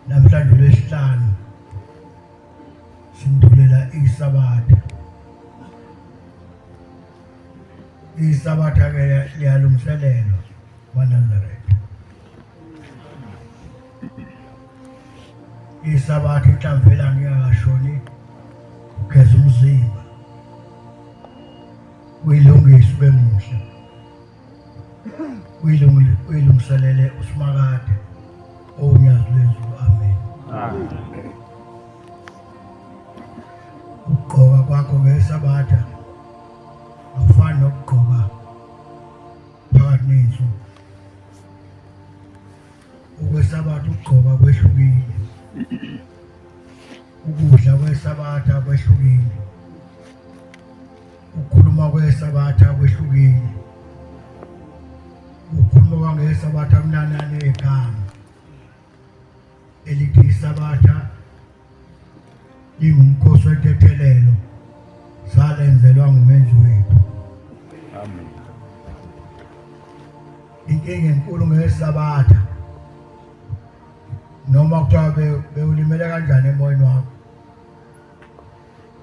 namhlanje lesihlanu sindulela isabatha isabatha ke liyalungiselelwa wanandaretha isabatha inhlamvu elanga ingakashoni kugeza umzimba uyilungise ube muhle uyilungiselele usimakade owunyazi lwezulu amen ukugqoka kwakho ngesabatha akufani nokugqoka phakathi ney'nsuku Ukwesabatha ukugqoka kwehlukile. Ukudla kwesabatha kwehlukile. Ukukhuluma kwesabatha kwehlukile. Ukukhuluma kwangesabatha kunanane egama. Elithi isabatha Ingumkhosi wentethelelo salenzelwa ngumenzi wethu. Amen. Inkinga enkulu ngesabatha noma kuthiwa bewulimele kanjani emoyeni wakho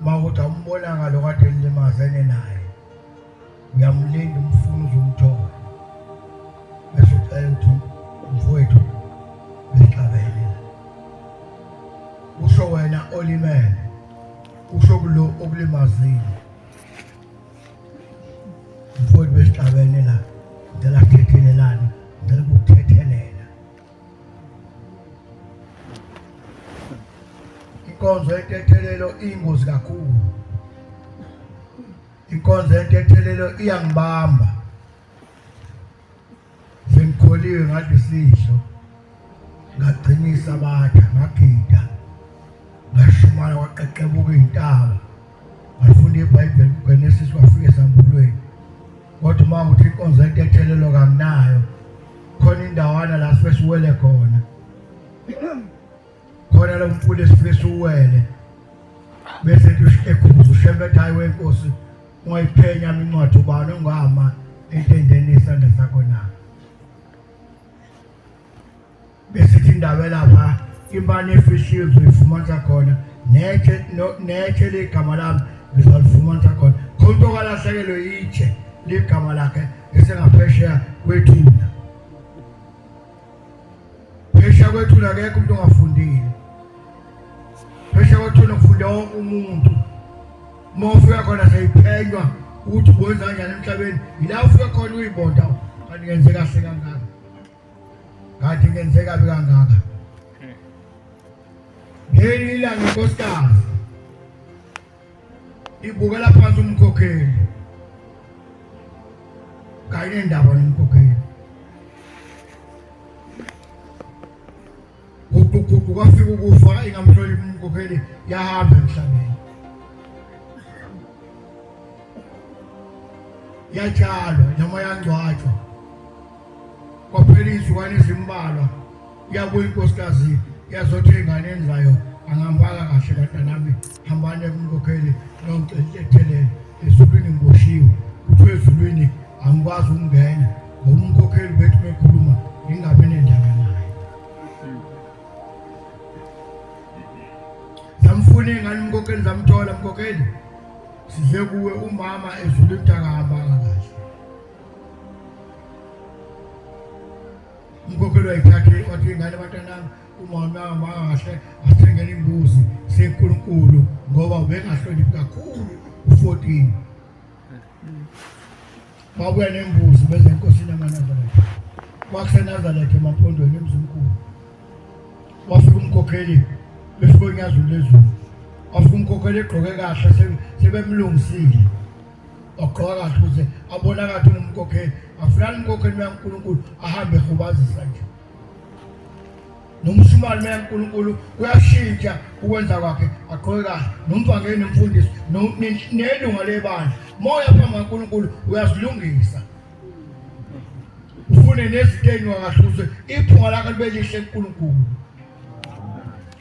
uma kuthi awumbonanga lo kade nilimaze nenaye uyamlinda umfuna uzomthola bese ucela ukuthi umfowethu bexabene usho wena olimele usho kulo okulimazile umfowethu besixabene la ngicela sithethelelane ngicela ukuthethelela inkonzo yentethelelo iyingozi kakhulu icontent ethelelo iyangibamba sengikholiwe ngathi sisho ngagcinisa abatha ngagida ngashumana kwaqeqebuka iy'ntaba ngafunda ibhayibheli kugenesis wafika esambulweni kodwa uma ukuthi inkonzo into ethelelo kanginayo khona indawana la sibesiwele khona khona lo mfula esifike siwele bese ekhuza ushembe ethi hayi wenkosi ungayiphenya incwadi ubani ongama entendeni isandla sakho na besithi indawo elapha imane efishiwe uzoyifumanisa khona netshe netshe ligama lami ngizalifumanisa khona khona okalahlekelwe itshe ligama lakhe esengaphesheya kwethuna phesha kwethuna akekho umuntu ongafundile phesha kwethuna kufunda wonke umuntu uma ufika khona seyiphenywa ukuthi uwenza kanjani emhlabeni yila ufika khona uyibonda kanti ngenze kahle kangaka kanti ngenze kabi kangaka ngelinye ilanga inkosikazi ibukela phansi umkhokheli kayinendaba nomkhokheli uguquguqu kwafika ukufa ingamhloniphi umkhokheli yahamba emhlabeni yatshalwa noma yangcwatshwa kwaphela izizukwani ezimbalwa Yabuya inkosikazi yazothi enganeni zayo angambala kahle batanami hambani ekunkokheli noncelethelele ezulwini ngiboshiwe kuthiwa ezulwini angikwazi ukungena ngoba umkhokheli wethu bekhuluma ngingabi nendaba naye zamfuna ingane umkhokheli zamthola mkhokheli size kuwe umama ezulwini mntakahambanga umkhokheli wayiphathe wathi ingane abantanami umama wami wakahle asithengela imbuzi senkulunkulu ngoba ubengahloniphi kakhulu u-14 babuya nembuzi beze enkosini yamanazaretha kwakusenazaretha emaphondweni emzimkhulu wafika umkhokheli befika unyazulu lezulu wafika umkhokheli egqoke kahle sebemlungisile wagqoka kahle ukuze abona kathi ungumkokheli afunani umkokheli uya nkulunkulu ahambe ehubazisa nje nomshumane uya nkulunkulu kuyashintsha ukwenza kwakhe agqoke kahle nomvangeli nomfundisi nelunga lebandla moya phambi kankulunkulu uyazilungisa ufune nezinto eyinwakahle ukuze iphunga lakho libe lihle nkulunkulu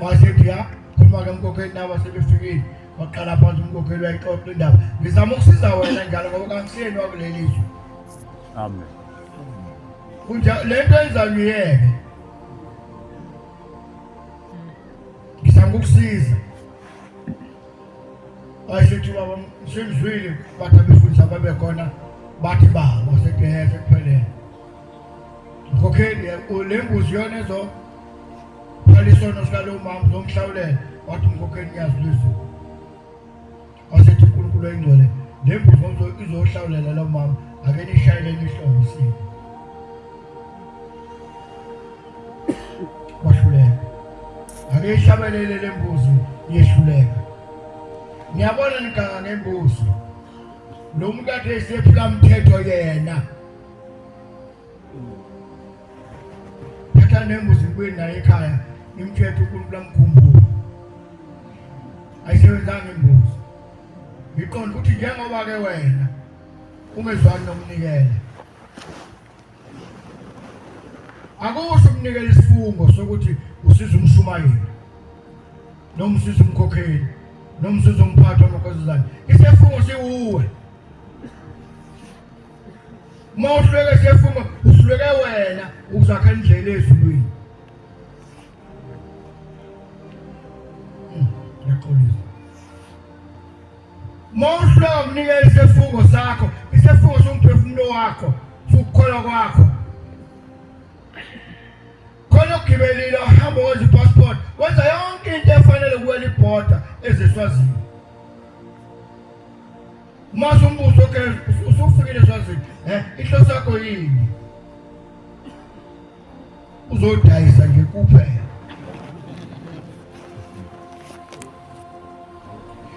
wasethi ya khuluma-ke mkhokheli nabo sebefikile waqala phansi umkhokheli wayixoxa indaba ngizama ukusiza wena njalo ngoba kangisiyeni wakuleli zwe amen kunjalo le nto enzayo uyeke ngizama ukusiza wayesethi baba sengizwile bathi abefundisa babekhona bathi ba wasethi hese kuphelele mkhokheli le mbuzi yona ezo Phela isono sikalowo mama uzomhlawulela wathi umkhokheli ngiyazilwisa. Wasethi uNkulunkulu oyingcwele nembuzo izohlawulela lo mama ake nishayele nihlobo isimo. Kwahluleka. Ake ishabelele lembuzi yehluleka. Ngiyabona niganga ngembuzi. Lo muntu athe sephula umthetho yena. phetha nembuzi ngibuye naye ekhaya ngimthethe ukuntu lamkhumbulo ayisebenzanga imbuzi ngiqonda ukuthi njengoba ke wena ungezwani nomnikela akusho umnikela isifungo sokuthi usiza umshumayeli noma usiza umkhokheli noma usiza umphathi wamakhosi zani isifungo siwuwe mawuhlweke sefuma uhlweke wena uzakha indlela ezulwini hmm, ngiyaxolisa mawuhlweka unikele isifungo sakho isifungo somphefumulo wakho sukukholwa kwakho khona ugibelile uhamba wenza ipassport wenza yonke into efanele kuwela ibhoda ezeswazini Mase umbuzo ke usufikile swazi eh inhloso yakho yini? Uzodayisa nje kuphela.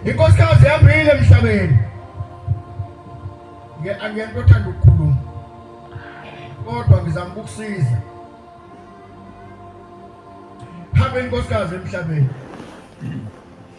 Inkosikazi yambile emhlabeni. Nge angiyento othanda ukukhuluma. Kodwa ngizama ukukusiza. Hambe inkosikazi emhlabeni.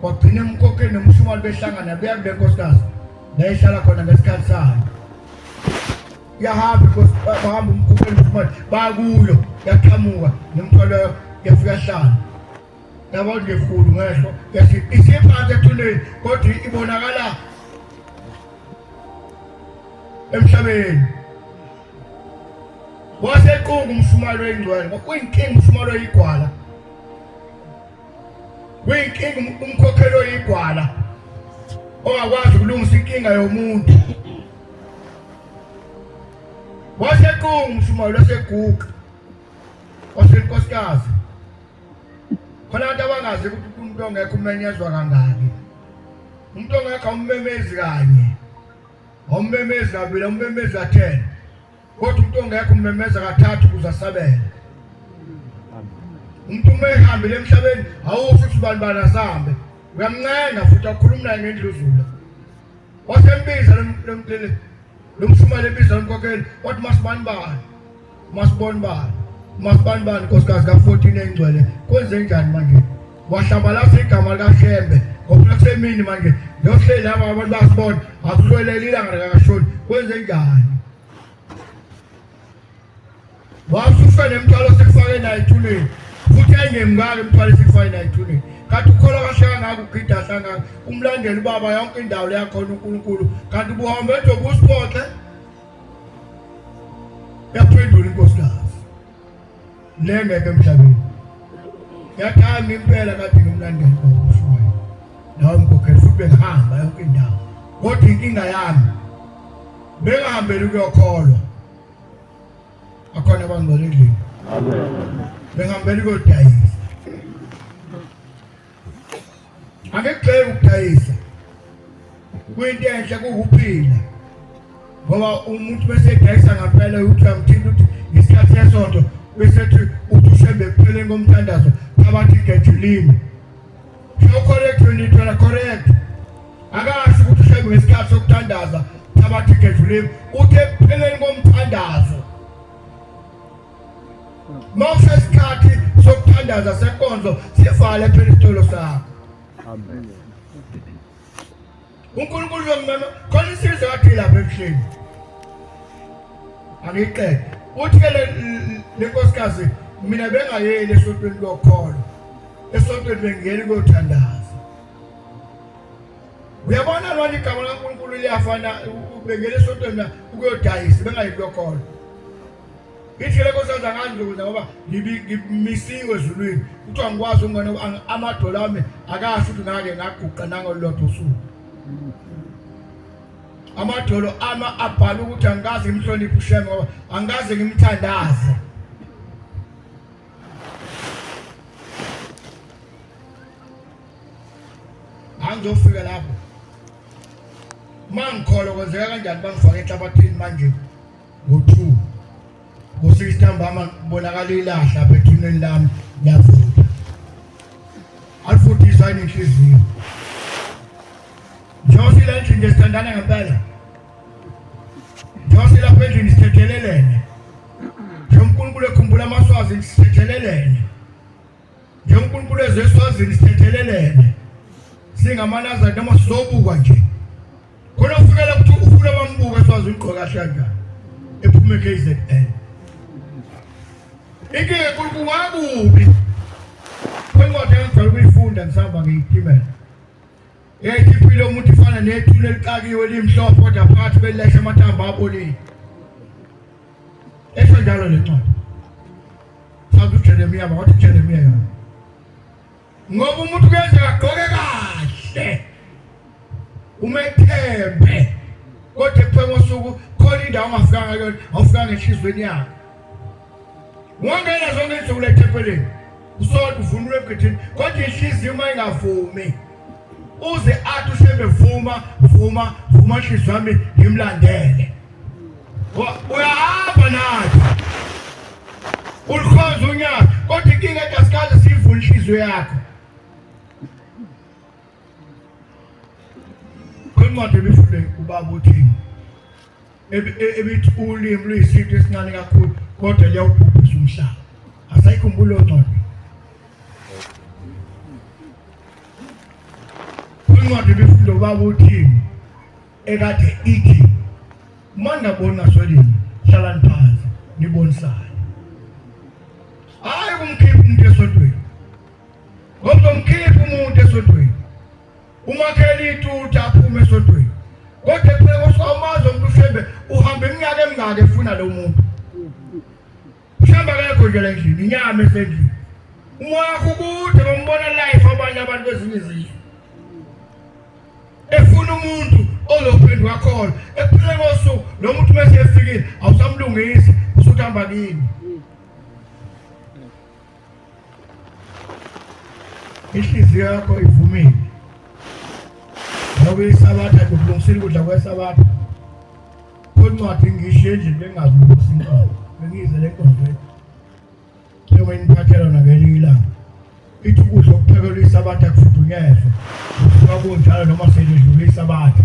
kwagcina emkhokheni nomshumali behlangana beya kule nkosikazi nayehlala khona ngesikhathi sayo yahamba bahamba umkhokheni nomshumali bakuyo yaqhamuka nemthwalo yafika hlala yabo ngekhulu ngehlo isiphansi ethuneni kodwa ibonakala emhlabeni wasequnga umshumali oyingcwele uyinkinga umshumali oyigwala Kuyinkinga umkhokheli oyigwala ongakwazi ukulungisa inkinga yomuntu. Wasequnga umshumayeli waseguqa wasenkosikazi. Khona abantu abangazi ukuthi umuntu ongekho umenyezwa kangaki. Umuntu ongekho ummemezi kanye. Ummemezi kabili, ummemezi athena. Kodwa umuntu ongekho ummemeza kathathu ukuze asabele. Umuntu uma ehambile emhlabeni awusho ukuthi ubani bani asambe. Uyamncenga futhi akhuluma naye ngendluzula. Wasembiza lomntele lomshumane ebiza lomkokeli wathi masibani bani. Masiboni bani. Masibani bani nkosikazi ka-14 engcwele. Kwenze njani manje? Wahlabalasa igama likaHlembe ngoba kusemini manje yohleli laba abantu basibona akusweleli ilanga likakashoni kwenze njani wasusa nemthwalo sikufake naye ethuneni futhi engemngaki imthwalo sikufake naye ethuneni kanti ukholwa kahle kangaka ugida hlangaka umlandela ubaba yonke indawo leyakhona unkulunkulu kanti ubuhambe edobe usiphoxe yaphendula inkosikazi nengeke emhlabeni yathanda impela kade ngimlandela kwakushuwayo nawe mkhokheli futhi bengihamba yonke indawo kodwa inkinga yami bengahambeli ukuyokholwa akhona abangcwele endlini bengihambeli kodayisa Angekugxeki ukudayisa kuyinto enhle kuwuphila ngoba umuntu bese edayisa ngampela ukuthi uyamthinta ukuthi ngesikhathi sesonto bese ethi uthi ushembe ekupheleni komthandazo phakathi ngejulini so correct when you tell correct akasho ukuthi ushembe ngesikhathi sokuthandaza phakathi ngejulini uthe ekupheleni komthandazo Mawuse isikhathi sokuthandaza senkonzo sivale phela isitolo sakho. Amen. uNkulunkulu lomama khona isizwe wathi lapha ebuhleni angiqede uthi ke le nkosikazi mina bengayeli esontweni kokholo esontweni bengiyeli kuyothandaza uyabona lona igama laNkulunkulu liyafana bengiyeli esontweni ukuyodayisa bengayeli kokholo ngithi leko senza ngandlula ngoba ngimisiwe ezulwini kuthiwa ngikwazi ukungena amadolo ami akasho ukuthi ngake ngaguqa nangolulodwa usuku amadolo ama abhala ukuthi angikaze ngimhloniphe usheme ngoba angikaze ngimthandaze angizofika lapho mangikholwa kwenzeka kanjani bangifake enhlabathini manje ngo-two ngo-six ntambama kubonakala ilahla apha ethuneni lami liyavuka alifundiswa yini inhliziyo njengoba sila endlini nje sithandana ngempela njengoba silapha endlini sithethelelene njengoba unkulunkulu ekhumbula amaswazi sithethelelene njengonkulunkulu ezeswazini sithethelelene singamanazari noma sizobukwa nje khona ufunela ukuthi ufuna bambuka eswazi ugqoka kahle kanjani ephume KZN inkinga enkulu kungakubi kwencwadi engijwayele ukuyifunda ngisahamba ngiyiphimela Ethi impilo yomuntu ifana nethulu elixakiwe limhlophe kodwa phakathi belilahla amathambo abolile. Esho njalo le ncwadi. Sathi uJeremiya wathi uJeremiya yona. Ngoba umuntu kwenza agqoke kahle. Umethembe. Kodwa ekuphengosuku khona indawo ongafikanga kuyona, awufikanga enhlizweni yakhe. Wangena zonke insuku lethempelini usodwa uvunule ebugidini kodwa inhliziyo uma ingavumi uze athi ushembe vuma vuma vuma nhliziyo yami ngimlandele uyahamba nathi ulikhonza unyaka kodwa inkinga ethi asikaze siyivule inhliziyo yakho kwincwadi ebifunde ubaba uthini ebithi ulimi luyisinto esincane kakhulu kodwa liyawubhubhisa umhlaba asayikhumbula oncwadi incwadi bifunda ubaba uthini ekade ithi uma ningabona swelini hlalani phansi nibonisane hhayi kumkhipha umuntu esodweni ngoba umkhipha umuntu esodweni umakheli ituta aphume esontweni kodwa ephela kosuka umazi omuntu ushembe uhamba iminyaka emingaka efuna lo muntu ushembe akekho nje le ndlini inyama esendlini umoya wakho kude bombona life abanye abantu kwezinye izizwe efuna umuntu ozophendwa khona ephela kosuku lo muntu uma esefikile awusamlungisi usuthi hamba kini Inhliziyo yakho ivumile ngoba isabatha kulungisile ukudla kwesabatha kwencwadi ngisho endlini bengazi ukuthi inkomo bengize le nkonzweni njengoba iniphathela yona ngelinye ilanga ithi ukudla okuphekelwa isabatha kufudunyezwe kusuka kunjalo noma selidlula isabatha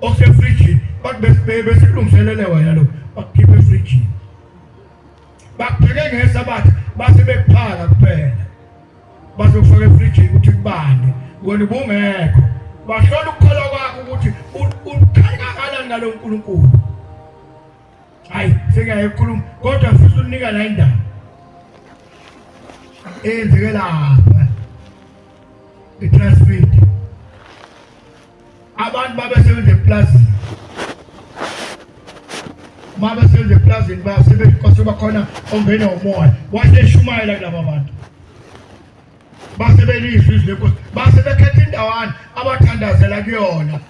osefrijini besilungiselele wena lo bakukhipha efrijini bakupheke ngesabatha base bekuphala kuphela bazokufaka efrijini ukuthi kubande wena ubungekho bahlola ukukholwa kwakho ukuthi ukhali kangakanani ngalo nkulunkulu hayi sekuyaye kukhuluma kodwa ngifisa unika la indaba eyenzeke lapha itransfit abantu babesebenza eplazini uma besebenza eplazini basebenzi bakhona ongena umoya waseshumayela kulaba bantu basebelizwe izwi lenkosi base bekhetha indawana abathandazela kuyona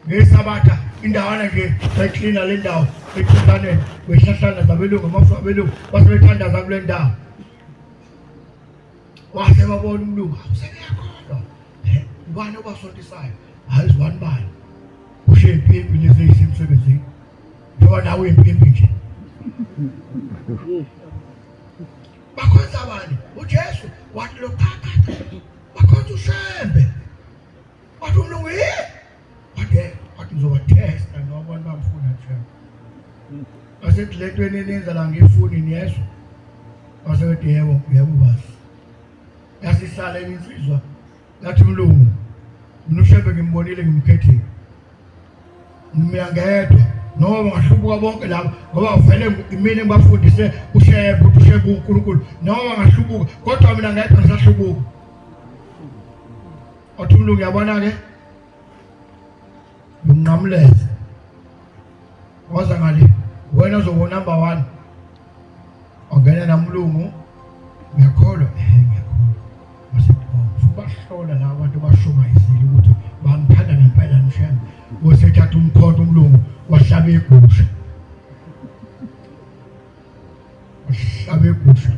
ngesabatha indawana nje beklina le ndawo ethintaneni kwehlahlana zabelungu amafu abelungu base bethandaza kule ndawo wase wabona umlungu awuseyakhona ubani obasontisayo hayi zibani bani ushiye impimpi lezi eyisemsebenzini njengoba nawe uyimpimpi nje bakhonza bani ujesu wathi loqhaqhaqa bakhonza ushembe wathi umlungu yini wathi ngizobatesta noma abantu bangifuna nje basethi le nto eninenza la ngifuni niyezwa basethi yebo yebo basi yasisala insizwa yathi mlungu mina ushebe ngimbonile ngimkhethile mina ngedwa noma ngahlubuka bonke labo ngoba vele imini ngibafundise ushebe ukuthi ushebe uNkulunkulu noma ngahlubuka kodwa mina ngedwa ngisahlubuka Othi umlungu yabona ke unqamuleze waza ngale wena ozobo number 1 ongena namlungu ngiyakholwa eh ngiyakholwa wasebona ubahlola la abantu bashumayizile ukuthi bamthanda ngempela mshem wasethatha umkhonto umlungu wahlaba igusha Uhlabe igusha.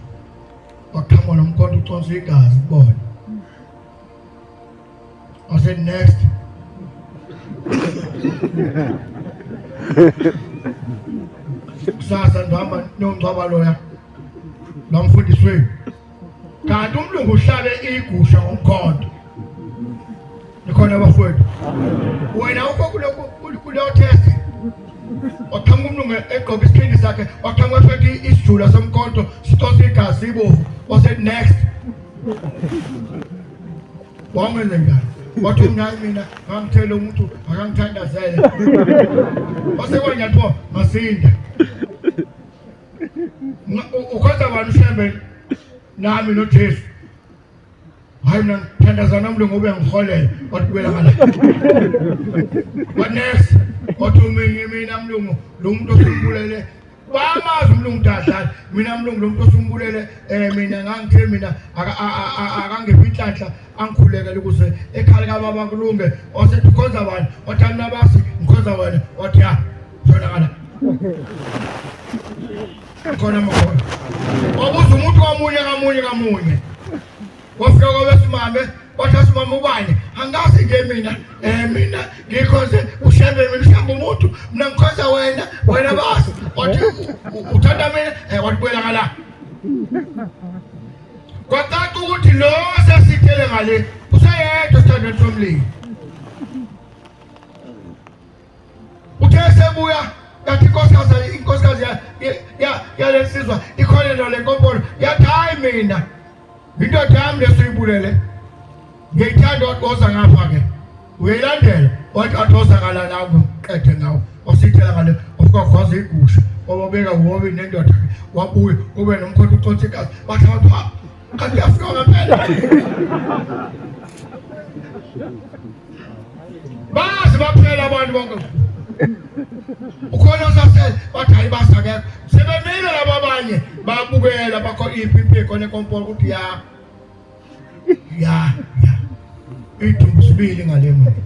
Waqhamuka nomkhonto uconsa igazi kubona. I said next. Kusasa ndihamba niyongcwaba loya. Nomfundisi wenu. kanti umlungu uhlabe igusha ngomkhondo nikhona bafowethu wena ukho kuleyo test waqhamuka umlungu egqoka isikhindi sakhe waqhamuka esethi isijula somkhonto sitose igazi ibovu wasethi next wamenze njani wathi umnayi mina ngamthela umuntu akangithandazele wasekwanyathiwa masinda ukhonza bani ushembe nami nojesu hayi mna ngithandazana umntu ngobe ngiholela watibuyela ngala wanesi wathi uminye mina mlungu lo muntu osumbulele bamazi umlungu dadlala mina mlungu lo muntu osumbulele um eh, mina ngangithe mina akangiphi inhlanhla angikhulekela ukuze ekhali kababa kulunge osethi ukhonza bani othi anabasi ngikhonza wena othi ya zonakala khona makhona wabuza umuntu kamunye kamunye kamunye wafika kwabesimame wathi asimame ubani angazi nje mina um mina ngikhonze ushembe mina ushembe umuntu mina ngikhonza wena wena basi wathi uthanda mina um eh, wathi buyela ngala Kwacaca ukuthi lo sasithele ngale useyedwa esithandweni somlilo. Uthe sebuya yathi inkosikazi inkosikazi yalensizwa ikholelwa le nkompolo yathi hayi mina indoda yami lesuyibulele ngiyithanda wagoza ngapha-ke uyilandela wathi athosakala nawo qede ngawo wasithela ngale wasikwaza igusha wababeka wobe nendoda wabuya ube nomkhonto ucothikazi bathi abantu ha kanti uyafika ngempela bazi baphela abantu bonke ukhona osase bathi hayi basakekho sebemile laba abanye babukela bakho iphi impiko nekompolo ukuthi ya ya ya idumbu sibili ngale mali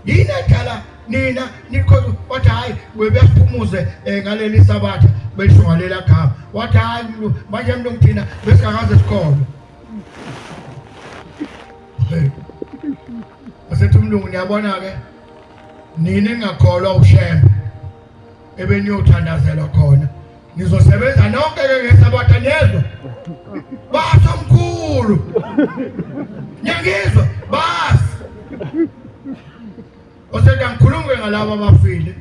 yini edala nina nikhoza wathi hayi webephumuze eh, ngaleli sabatha besho ngalela gama wathi hayi manje mntu ngithina besingakaze sikholwe asethi umlungu niyabona-ke nini ngingakholwa ushembe ebeniyothanda Ngizosebenza nonke ke ngesabatha niyezwa. Basa mkhulu. Ngiyangizwa bas. Oseka ngikhulume ngalabo abafile.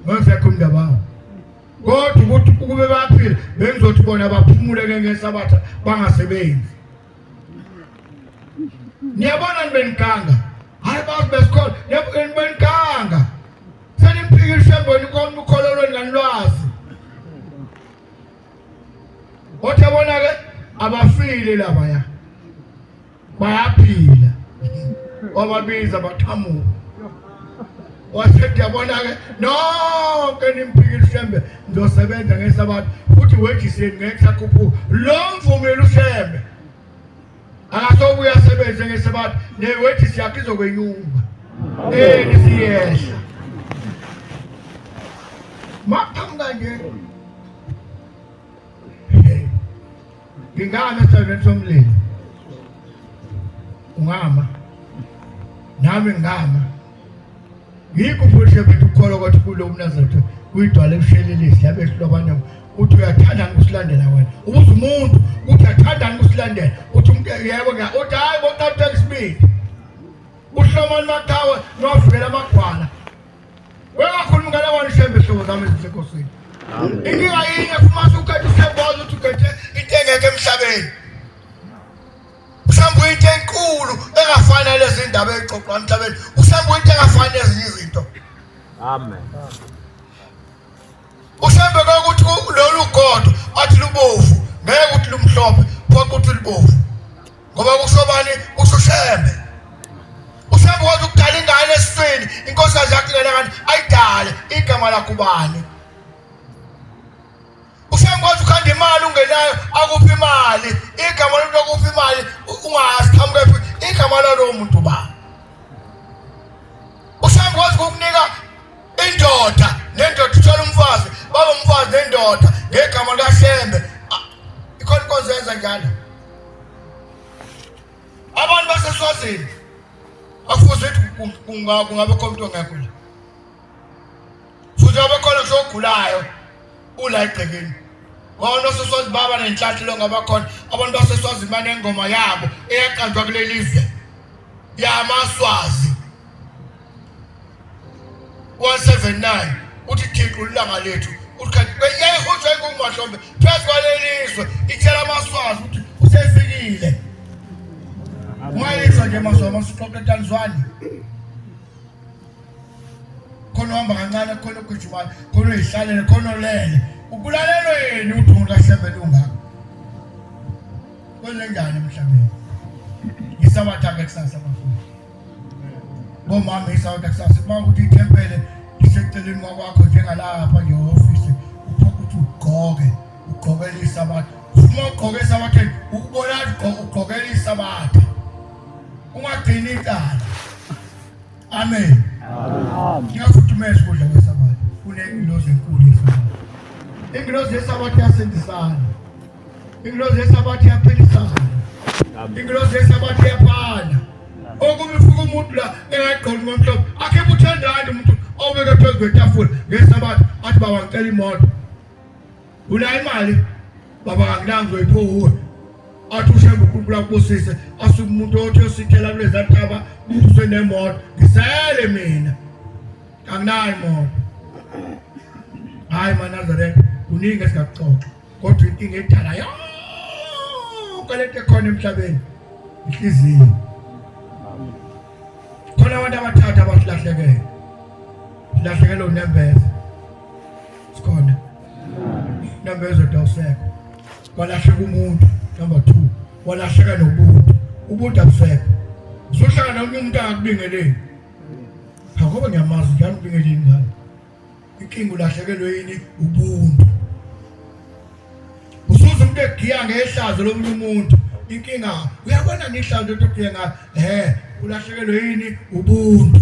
Ngizekho umndaba wabo. Kodwa ukuthi ukube baphila bengizothi bona baphumule ke ngesabatha bangasebenzi. Niyabona nibenikanga. Hayi bas besikhona. Niyabona nibenikanga. Senimphikishe emboni konke ukholo lwenganilwazi. Othe bona ke abafile laba ya. Bayaphila. Wababiza bathamuka. wasethi yabona-ke nonke nimphikile ushembe ngizosebenza ngesabatha futhi wejiseni ngeke sakhuphuka lo mvumile ushembe akasobuye asebenze ngesabatha newethisi yakhe izokwenyuka eni siyehla maqhamuka nje ngingama esithandweni somlilo ungama nami ngingama yikho futhi bethu ukholwa kwathi kulo umnazaretha kuyidwala ekushelelisi yabe ehlobana uthi uyathanda ukusilandela wena ubuza umuntu uthi uyathanda ukusilandela uthi umuntu yebo ke uthi hayi boqatha isibili uhlomani maqhawe novikela amagwala wengakhulumi ngala wani shembe hlobo zami ezisekosini inkinga yinye fumase ukhethe usebona ukuthi ukhethe into engekho emhlabeni mhlawumbe uyinto enkulu engafani nalezi ndaba eyixoxwa emhlabeni mhlawumbe uyinto engafani nezinye izinto amen mhlawumbe kwakuthi lolu godo athi lubovu ngeke ukuthi lumhlophe phoqa ukuthi lubovu ngoba kusobani usushembe ushembe wathi ukudala ingane esiswini inkosi yazi yakulela kanti ayidale igama lakubani usengikwazi ukhanda imali ungenayo akuphi imali igama lomuntu akuphi imali ungazi qhamukephi igama lalowo muntu ba usengikwazi ukukunika indoda nendoda ithola umfazi baba umfazi nendoda ngegama likasembe ikhona inkonzo yenza njalo abantu baseswazini akufuze ukuthi kungabe khona umuntu ongekho la futhi abakhona ngisho ogulayo ula egcekeni wona oseswazi baba nenhlathi lo ngabakhona abantu baseswazi banengoma yabo eyaqanjwa kuleli zwe yamaswazi 179 uthi thixo ulanga lethu yayihutshwa ingungumahlombe phezu kwalelizwe ithela amaswazi ukuthi usefikile mayizwa nje maswa masixoxe tanzwani khona uhamba kancane khona ogijimayo khona uyihlalele khona olele ukulalelwe yini udungu lahlebe lungako kwenzenjani emhlabeni ngisabatha-ke kusasa bafuna bomama isawuta kusasa uma ukuthi ithempele liseceleni kwakwakho njengalapha nje ofisi uphoka ukuthi ugqoke ugqokele isabatha uma ugqoke esabatheni ukubona ugqokele isabatha ungagcini icala Amen. Amen. Ngiyafudumeza ukudla kwesabatha. Kunengilozi enkulu yesabatha. Ingilozi yesabatha yasindisana. Ingilozi yesabatha yaphilisana. Ingilozi yesabatha yaphala. Okubi fuka umuntu la engagqoki ngomhlobo. Akhe buthandani umuntu obeke phezu kwetafula ngesabatha athi baba ngicela imoto. Unayo imali baba kakulanzi wayiphuwe athi ushembe uNkulunkulu akubusise asuke umuntu othi osithela kulezi ntaba buswe nemoto ngisele mina anginayo imoto hayi manazareth kuningi esingakuxoxa kodwa inkinga edala yonke lento ekhona emhlabeni inhliziyo khona abantu abathatha abasilahlekele silahlekelwe unembeza sikhona number ezodwa usekho kwalahleka umuntu number 2 walahleka nobuntu ubuntu abusekho sohlala nomunye umuntu akubingeleni ngoba ngiyamazi njalo ubingele ingane inkinga ulahlekelwe yini ubuntu usuze umuntu egiya ngehlazo lomunye umuntu inkinga uyabona ngihlazo into egiya ngayo he ulahlekelwe yini ubuntu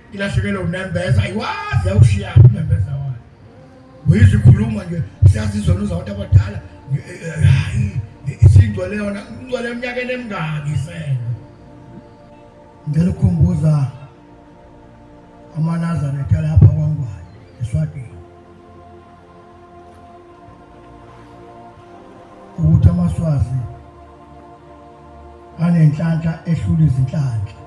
Ilahlekele unembeza ayiwazi awushiya unembeza wayo. Uyizikhuluma nje siyazizwa noza abantu abadala. Hayi isingcwele yona ingcwele eminyakeni emingaki sena. Ngicela ukukhumbuza amanazareth alapha kwangwane eswatini ukuthi amaswazi anenhlanhla ehlula izinhlanhla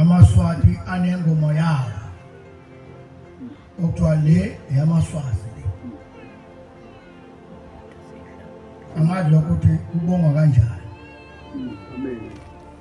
amaswati anengoma yawo okuthiwa le eyamaswazi le angazi lokho ukuthi kubongwa kanjani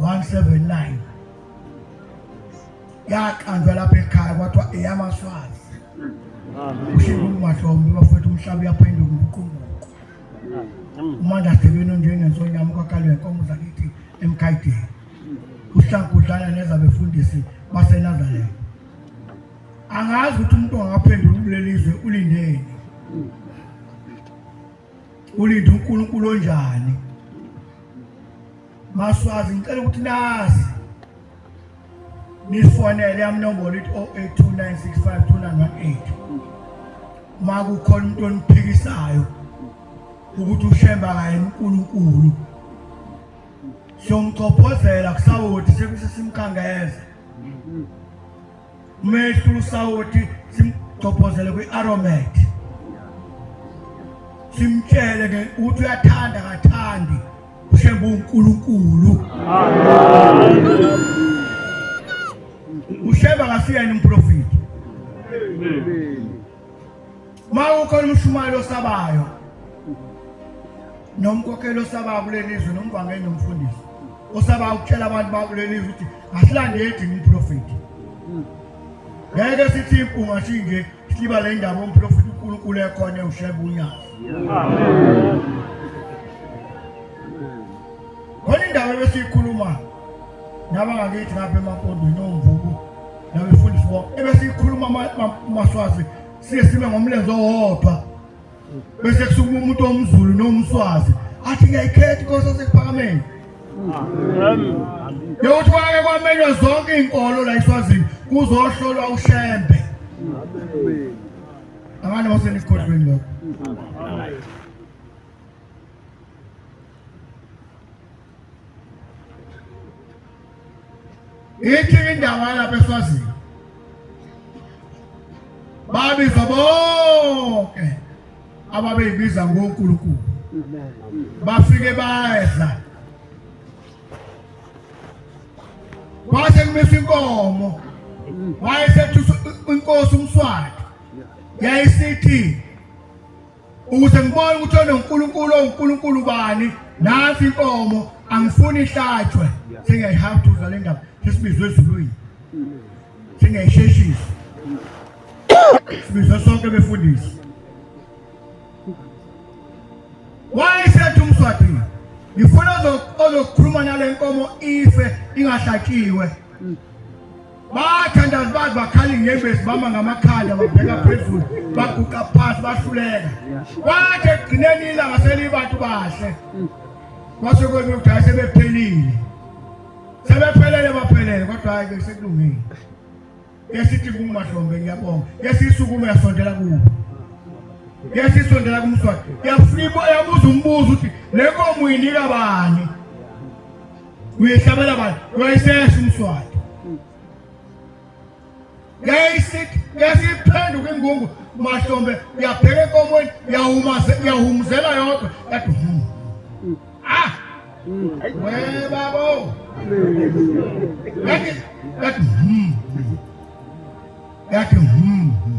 179 yaqanjwa lapha ekhaya kwathiwa eyamaswazi ushinga umahlombe bafethu umhlaba uyaphenduka ubuqumbuqu umandla sibeni onjengensonyama kwakalwe nkomo zakithi emkhayideni uhlangu udlala nezabefundisi baseNazaretha angazi ukuthi umuntu angaphendula kulelizwe ulindeni ulinda uNkulunkulu onjani maswazi ngicela ukuthi nazi nifonele yami nombolo ithi 0829652918 uma kukhona into oniphikisayo ukuthi ushemba kaye uNkulunkulu siyomchophozela kusawoti sekusesimkhangeza umehlu usawoti simgcophozele kwi-aromat simtshele ke ukuthi uyathanda kathandi ushembe uNkulunkulu ushembe akasiyena umprofeti Uma ukhona umshumayeli osabayo nomkhokheli osabayo kuleli zwe nomvangeli nomfundisi osabayo ukutshela abantu bakuleli zwe ukuthi asilandeli thina umprofethi ngeke sithi impunga sinje siba le ndaba umprofethi uNkulunkulu ekhona ewusheba unyazi khona indawo ebesiyikhuluma nabangakithi ngapha emapondweni omvubu nabefundisi bo ebesiyikhuluma maswazi siye sibe ngomlenze owodwa bese kusukuma umuntu omzulu nomswazi athi ngiyayikhetha inkosi yasekuphakameni yokuthi kwake kwamenywa zonke iy'nkolo la iswazini kuzohlolwa ushembe abanye basenikhohlweni lokho ithi indawo yalapha eswazini babiza bonke ababeyibiza ngonkulunkulu bafike badla kwase kumisa inkomo wayesethusa inkosi umswati yayisithi ukuze ngibone ukuthi ononkulunkulu owunkulunkulu bani nansi inkomo angifuni ihlatshwe sengiyayihawuthuza le ndaba sesibizwe ezulwini singayisheshisi sibizwe sonke befundisi wayesethi umswadini ngifuna ozokhuluma nale nkomo ife ingahlatshiwe bathandazi bazi bakhala inyembezi bama ngamakhanda babheka phezulu baguqa phansi bahluleka kwathi ekugcineni ilanga selibantu bahle kwase kwenu ukuthi hayi sebephelile sebephelele baphelele kodwa hayi ke sekulungile esithi kumahlombe ngiyabonga esisukume yasondela kubo yasisondela kumswati yafika yabuza umbuzo ukuthi le nkomo uyinika bani uyehlabela bani uyayisesha umswati yasiphenduka ingungu mahlombe uyabheka enkomweni uyahumuzela yodwa yathi hmm. ah we babo yathi yathi hmm. hmm.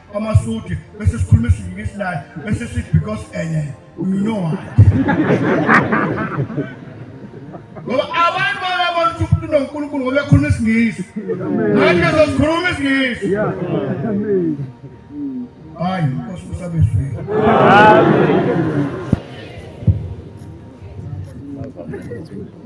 kwamasudi bese sikhuluma isiZulu isilali bese sithi because enye you know why ngoba abantu bayabona ukuthi umuntu unonkulunkulu ngoba ekhuluma isingisi nathi sesikhuluma isingisi hayi nkosi usabezwile Thank you.